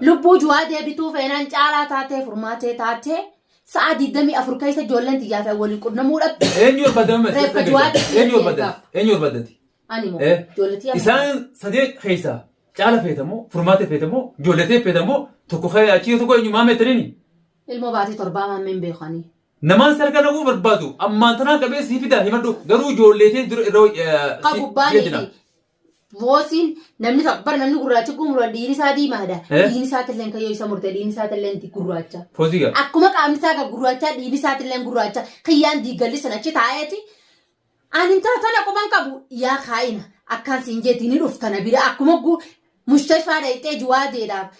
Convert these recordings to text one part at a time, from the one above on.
Lubbuu juwaa deebituu feenaan caalaa taatee furmaatee taatee sa'a 24 keessa ijoolleen tiyyaa fi waliin qunnamuu dhabde. Eenyu barbaadame? Reeffa juwaatti Eenyu barbaadame? Eenyu barbaadati? Ani moo Eh? ijoollee tiyyaa Isaan sadee keessaa caala feetamoo, furmaate feetamoo, ijoolletee feetamoo, tokko kee achii tokko eenyu maamee taniini. ilmoo baatee torbaa maammeen beekanii. Namaan sarka naquu barbaadu ammaan tanaan qabee sii fidaa himadhu garuu ijoolleetee dura irra Ka gubbaa ni fi Moosiin namni tokko bara namni gurraachi kun mura dhiirri isaa diimaadha. Eh? Dhiirri isaa tilleen kayyoo isa murte dhiirri isaa tilleen gurraacha. Poozii qaba. Akkuma qaamni isaa kan gurraachaa dhiirri isaa tilleen gurraacha kiyyaan diigalli sana achi taa'eeti. Ani intala tana quban qabu yaa kaa'ina akkaan siin jeeti ni dhufta na bira akkuma gu mushtashfaa dhayxee juwaa jeedhaaf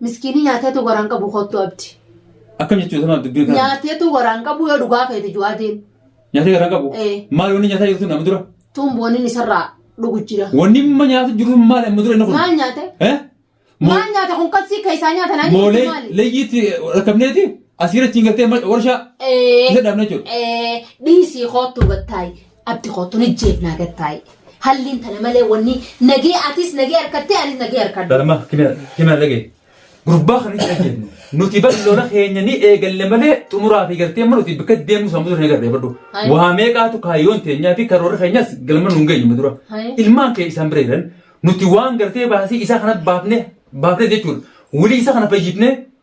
Miskiinii nyaateetu garaan qabu kottu abdi. Akkam jechuudha sama dubbiin kana. Nyaateetu garaan qabu yoo dhugaa feete ju'aatiin. Nyaatee garaan qabu. Ee. Maal wanni nyaataa jirtu nama dura. Tuun booniin isarraa dhugu jira. Wanni amma nyaatu jiru maal amma dura inni kun. Maal nyaate? Eh? Mo- Maal nyaate kun kassii keessaa nyaata naan Moo nyaatu maali? leeyyiitti rakkabneeti asiirra ittiin galtee ma- warshaa Ee. isa dhaabna jechuudha. Ee, dhiisii kottu gattaayi. Abdi koo tun ijjeef naa gad taa'i. Halliin tana malee wanni nagee atis nagee harkattee anis nagee harkadhu. Dhalama kimiyaa dhagee. Gurbaa kan itti ajjeefnu. Nuti bar lola keenya ni eegalle malee xumuraa fi gartee mana nuti bakka deemnu sammuu sana eegalle badhu. Hai. Waa meeqaatu kaayyoon teenyaa fi karoora keenyas galma nuun geenyu dura. Hai. Ilmaan kee isaan bira jiran nuti waan gartee baasii isaa kana baafne baafne jechuudha. Wulii isaa kana fayyifnee